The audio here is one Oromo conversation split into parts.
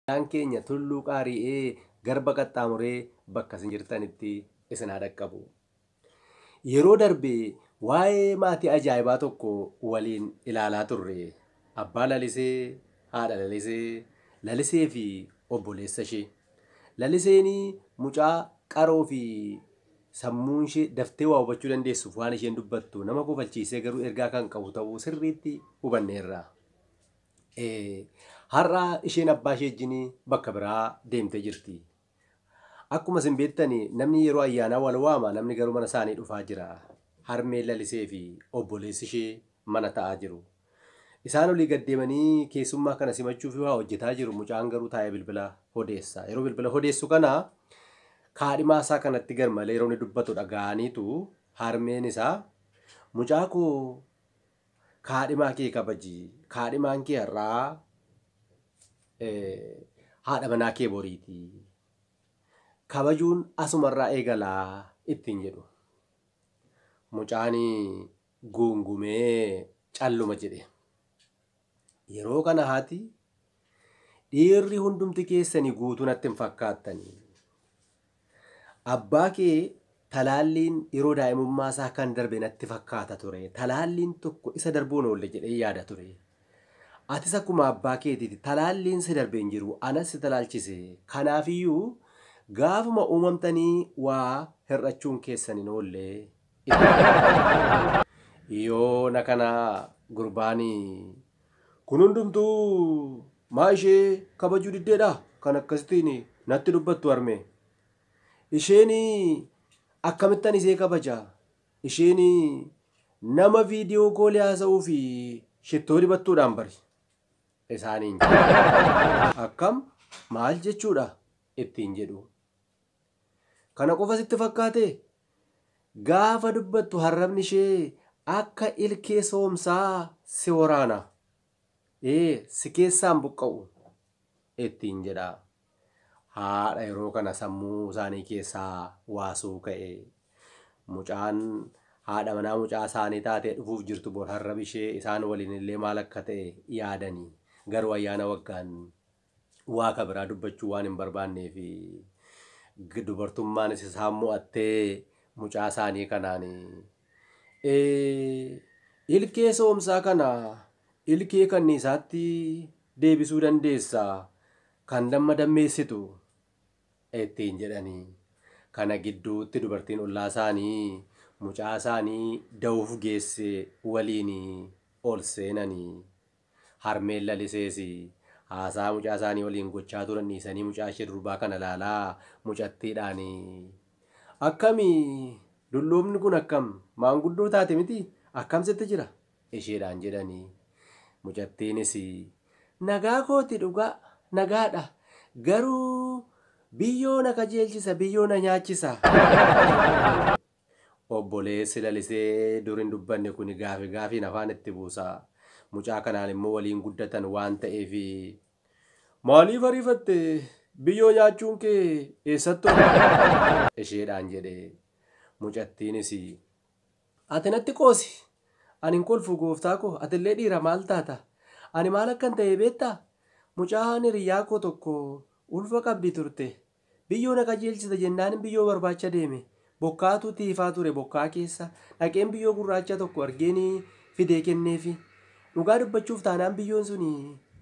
Nagaan keenya Tulluu Qaari'ee Garba qaxxaamuree bakka isin jirtanitti isin haa dhaqqabu. Yeroo darbe waa'ee maatii ajaa'ibaa tokko waliin ilaalaa turre. Abbaa Lalisee, haadha Lalisee, Lalisee fi obboleessa ishee. Laliseen mucaa qaroo fi sammuun ishee daftee waa hubachuu dandeessuuf waan isheen dubbattu nama kofalchiisee garuu ergaa kan qabu ta'uu sirriitti hubanneerra. Ee, har'a isheen abbaa ishee wajjin bakka biraa deemtee jirti. Akkuma isin beektan namni yeroo ayyaanaa wal waama, namni garuu mana isaanii dhufaa jira. Harmeen Lalisee fi obboleessi ishee mana taa'aa jiru. Isaan olii gad deemanii keessummaa kana simachuuf waa hojjetaa jiru, mucaan garuu taa'ee bilbila odeessa. Yeroo bilbila odeessu kana kaadhimaa isaa kanatti garmalee yeroo inni dubbatu dhaga'aniitu harmeen isaa mucaa koo Kaadhimaa kee kabaji. Kaadhimaan kee har'aa eh, haadha manaa kee boriiti. Kabajuun asumarraa eegalaa ittiin jedhu. Mucaani guungumee calluma jedhe. Yeroo kana haati Dhiirri hundumti keessani guutuu natti hin fakkaattani. Abbaa kee talaalliin yeroo daa'imummaa isaa kan darbe natti fakkaata ture. Talaalliin tokko isa darbuun oolle jedhee yaada ture. Atis akkuma abbaa keetiiti talaalliin si darbe hin jiru anas si talaalchise. Kanaafiyyuu gaafuma uumamtanii waa hir'achuun keessan hin oolle. Ittiin jedhe. Yoona kana gurbaani Kun hundumtuu maa ishee kabajuu diddeedha kan akkasitiin natti dubbattu harmee? Isheen akkamittan isee kabaja? Isheen nama viidiyoo koolii haasa'uu fi shittoo dibattuudhaan bari. Isaaniin jedhe. Akkam maal jechuudha? ittiin jedhu. Kana qofa sitti fakkaatee? Gaafa dubbattu harrabni ishee akka ilkee soomsaa si waraana. Ee, si keessaa hin buqqa'u! ittiin jedha. Haadha yeroo kana sammuu isaanii keessaa waa suuka'e. Mucaan haadha manaa mucaa isaanii taatee dhufuuf jirtu bor harrabi ishee isaan waliin illee maal akka ta'e yaadani. Garuu ayyaana waggaan Waa ka biraa dubbachuu waan hin barbaanneef dubartummaanis isaan mo'attee mucaa isaanii kanaan ilkee soomsaa kana ilkee kanniisaatti deebisuu dandeessa kan damma dammeessitu ittiin jedhanii kana gidduutti dubartiin ollaa isaanii mucaa isaanii da'uuf geesse waliin ol seenanii Harmeen Lalisees haasaa mucaa isaanii waliin gochaa turan dhiisanii mucaa ishee durbaa kana ilaalaa mucattiidhaan Akkami? Dulloomni kun akkam? Maanguddoo taate mitii? Akkam sitti jira? isheedhaan jedhan. Mucattiinis Nagaa kooti dhugaa, nagaadha. Garuu biyyoo na kajeelchisa, biyyoo na nyaachisa. Obboleessi lalisee dur hin dubbanne kuni gaafi gaafiin afaan itti buusa. Mucaa kanaan immoo waliin guddatan waan ta'eefi. Maaliif ariifatte? Biyyoo nyaachuun kee eessatti oole? isheedhaan jedhe. Mucattiinis Ati natti qoosi! Ani hin kolfu gooftaa koo, atillee dhiira maal taata? Ani maal akkan ta'e beektaa? Mucaan hiriyyaa koo tokko ulfa qabdi turte. Biyyoo na qajeelchita jennaanin biyyoo barbaacha deeme. Bokkaatu itti ifaa ture bokkaa keessa dhaqeen biyyoo gurraacha tokko argeeni fidee kenneefi. Dhugaa dubbachuuf taanaan biyyoon suni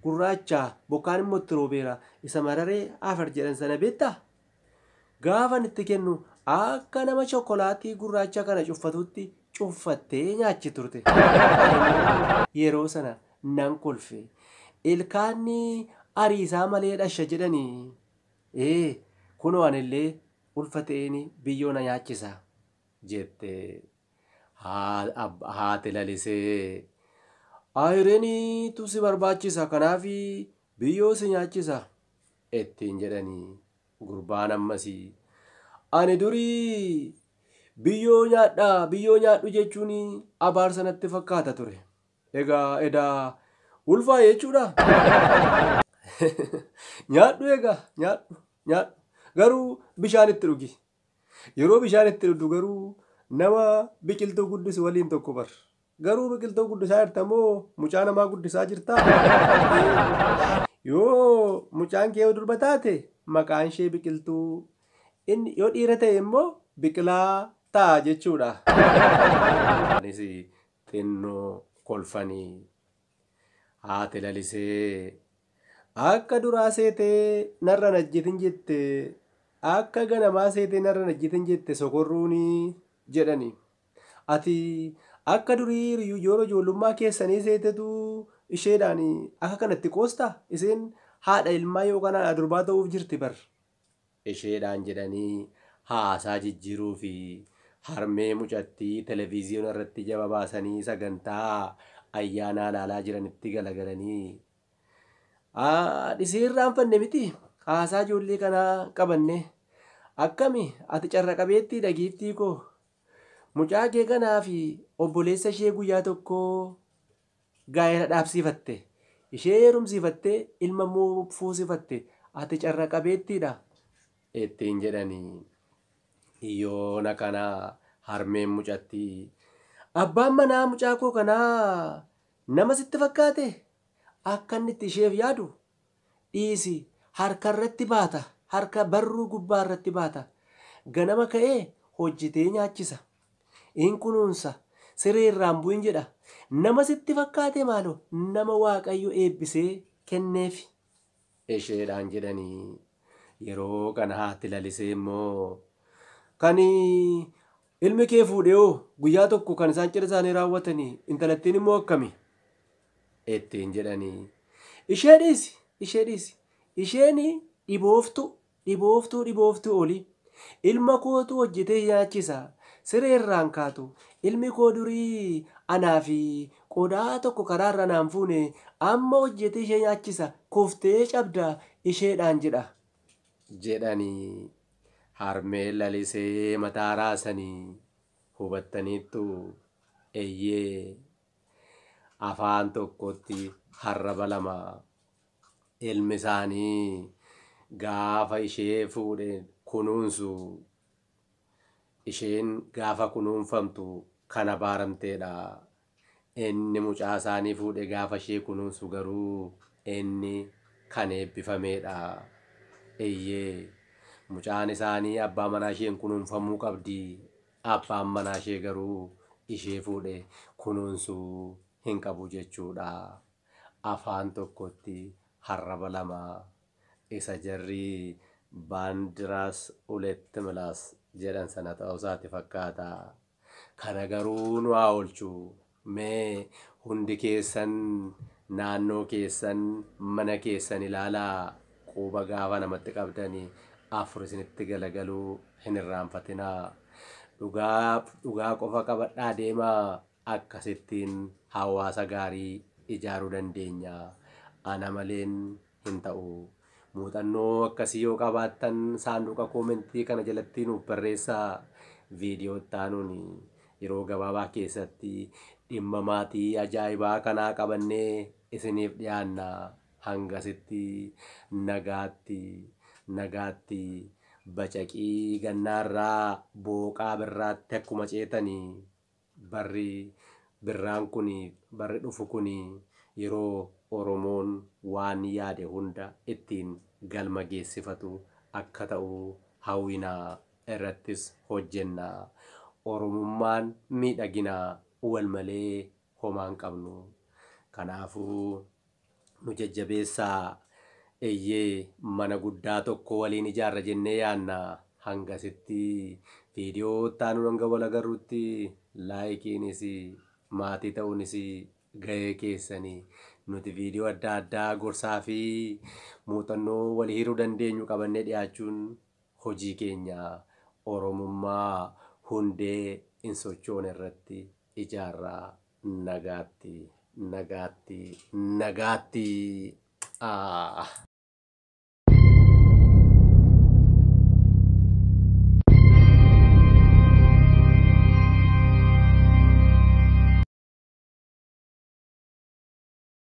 gurraacha bokkaan immoo itti roobeera isa mararee afar jedhan sana beektaa? Gaafan itti kennu akka nama chokkolaatii gurraacha kana cuffatuutti cuffattee nyaachi turte. Yeroo sana nan kolfe. Ilkaanni ariisaa malee dhasha jedhani. Ee, kunoo anillee ulfa ta'een biyyoo na nyaachisa jette. Haati lalisee, Ayireniitu si barbaachisa kanaaf biyyoo si nyaachisa ittiin jedhani. Gurbaan ammas, Ani durii biyyoo nyaadha biyyoo nyaadhu jechuun abaarsa natti fakkaata ture. Egaa edaa ulfaa jechuudha? Nyaadhu egaa nyaadhu nyaadhu garuu bishaan itti dhugi. Yeroo bishaan itti dhugdu garuu nama biqiltuu guddisu waliin tokko bar. Garuu biqiltuu guddisaa jirta moo mucaa namaa guddisaa jirtaa? Yoo mucaan kee yoo durba taate maqaan ishee biqiltuu inni yoo dhiira ta'e immoo biqilaa ta'a jechuudha. Anis xinno kolfani haati lalisee akka duraa seete narra hin ajjetin jette akka ganamaa seete narra hin ajjetin jette sokorruuni jedhani ati akka durii riyu jooro ijoollummaa keessanii seetetu isheedhaani akka kanatti qoosta iseen haadha ilmaa yookaan haadha durbaa ta'uuf jirti bar isheedhaan jedhanii haasaa jijjiiruu fi harmee mucattii televiziyoona irratti jaba baasanii sagantaa ayyaanaa ilaalaa jiranitti galagalanii Dhisii irraanfanne miti haasaa ijoollee kanaa qabanne akkami ati carra qabeettiidha giiftii koo mucaa kee kanaa fi obboleessa ishee guyyaa tokkoo gaa'ela dhaabsiifatte, ishee heerumsiifattee ilma immoo fuusifatte, ati carra qabeettiidha? ittiin jedhani. Yoona kana harmeen mucattii, abbaan manaa mucaa koo kanaa nama sitti fakkaatee? Akka inni itti isheef yaadu dhiisi, harka irratti baata, harka barruu gubbaa irratti baata, ganama ka'ee hojjetee nyaachisa. in kunuunsa, siree irraa hin bu'in jedha. Nama sitti fakkaate maaloo nama Waaqayyo eebbisee kenneefi. isheedhaan jedhanii. Yeroo kana haati lalisee immoo kan ilmi kee fuudhe hoo guyyaa tokko kan isaan cidha isaanii raawwatanii intalattiin immoo akkami? ittiin jedhanii. Ishee dhiisi, ishee dhiisi, isheen dhibooftuu Dhibooftuu dhibooftuu oli. Ilma kootu hojjetee nyaachisa. Siree irraan kaatu. Ilmi koo durii anaa fi qodaa tokko karaa irra naan fuune amma hojjetee ishee nyaachisa kuftee cabda isheedhaan jedha. jedhanii harmeen lalisee mataa raasanii Hubattaniittuu? Eyyee. Afaan tokkotti harraba lama. Ilmisaanii gaafa ishee fuudhe kunuunsu, isheen gaafa kunuunfamtu kan abaaramteedha. Inni mucaasaanii fuudhe gaafa ishee kunuunsu garuu inni kan eebbifameedha. Eyyee, mucaan isaanii abbaa manaasheen kunuunfamuu qabdi, abbaan manaashee garuu ishee fuudhe kunuunsuu hin qabu jechuudha. Afaan tokkotti harraba lama isa jarri Baandiraas Uletti Milaas jedhan sana ta'uusaati fakkaata. Kana garuu nu haa oolchu. Mee hundi keessan naannoo keessan, mana keessan ilaalaa. Quba gaafa namatti qabdan afur isinitti galagaluu hin irraanfatinaa. Dhugaa, dhugaa qofa qabadhaa deemaa. Akkasittiin hawaasa gaarii ijaaruu dandeenya. Ana maleen hin ta'u. Muuxannoo akkasii yoo qabaattan saanduqa koomentii kana jalatti nuuf barreessaa. Viidiyoo itti aanuun yeroo gabaabaa keessatti dhimma maatii ajaa'ibaa kanaa qabannee isiniif dhiyaanna. Hangasitti nagaatti, nagaatti bacaqii gannaarraa booqaa birraatti akkuma ceetani. Barri birraan kuni, barri dhufu kuni yeroo Oromoon waan yaade hunda ittiin galma geessifatu akka ta'u hawwina, irrattis hojjenna. Oromummaan miidhagina, wal malee homaa hin qabnu. Kanaafuu nu jajjabeessaa. Eyyee mana guddaa tokko waliin ijaarra jennee yaadna. Hangasitti video itti aanuun hanga wal agarrutti laayikiinis maatii ta'uunis gahee keessani. Nuti video adda addaa gorsaa fi muuxannoo wal hiruu dandeenyu qabannee dhiyaachuun hojii keenya. Oromummaa hundee hin sochoone irratti ijaarra Nagaatti Nagaatti Nagaatti Aah.